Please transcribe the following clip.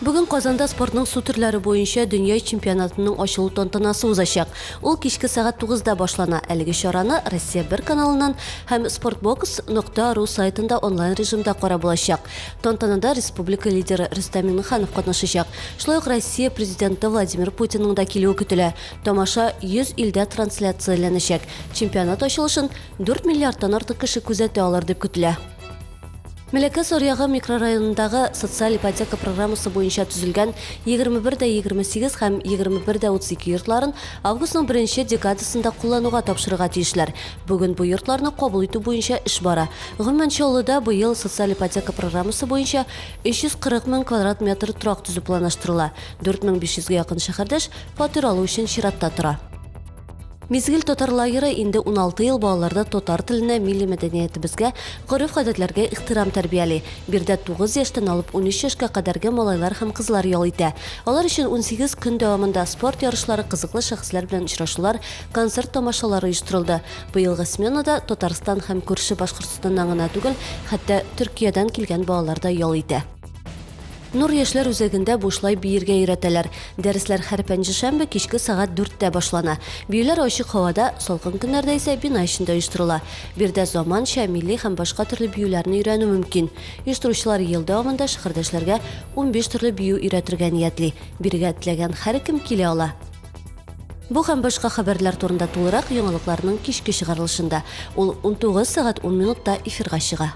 Бүген Казанда спортның су төрләре буенча дөнья чемпионатының ачылу тантанасы узачак. Ул кичке сәгать 9-да башлана. Әлеге чараны Россия 1 каналыннан һәм sportbox.ru сайтында онлайн режимда карап булачак. Тантанада республика лидеры Рөстәм Миңнеханов катнашачак. Шулай ук Россия президенты Владимир Путинның да килүе көтелә. Тамаша 100 илдә трансляцияләнәчәк. Чемпионат ачылышын 4 миллиардтан артык кеше күзәтә алыр дип көтелә. Мөлекәс аръягы микрорайонындагы социаль ипотека программасы буенча төзелгән 21 дә 28 һәм 21 дә 32 йортларын августның беренче декадасында куллануга тапшырырга тиешләр. Бүген бу йортларны кабул итү буенча эш бара. Гомумән, Чаллыда быел социаль ипотека программасы буенча 340 мең квадрат метр торак төзү планлаштырыла. 4500 гә якын шәһәрдәш фатир алу өчен чиратта тора. Мизгел татар лагеры инде 16 ел балаларда татар теленә, милли мәдәниятебезгә, гореф-гадәтләргә ихтирам тәрбияли. Биредә 9 яшьтән алып 13 яшькә кадәрге малайлар һәм кызлар ял итә. Алар өчен 18 көн дәвамында спорт ярышлары, кызыклы шәхесләр белән очрашулар, концерт-тамашалар оештырылды. Быелгы сменада Татарстан һәм күрше Башкортстаннан гына түгел, хәтта Төркиядән килгән балалар да ял итә. Нур яшьләр үзәгендә бушлай биергә өйрәтәләр. Дәресләр һәр пәнҗешәмбе кичке сәгать дүрттә башлана. Биюләр ачык һавада, салкын көннәрдә исә бина эчендә оештырыла. Биредә заманча, милли һәм башка төрле биюләрне өйрәнү мөмкин. Оештыручылар ел дәвамында шәһәрдәшләргә унбиш төрле бию өйрәтергә ниятли. Бирегә теләгән һәркем килә ала. Бу һәм башка хәбәрләр турында тулырак яңалыкларның кичке чыгарылышында. Ул унтугыз сәгать ун минутта эфирга чыга.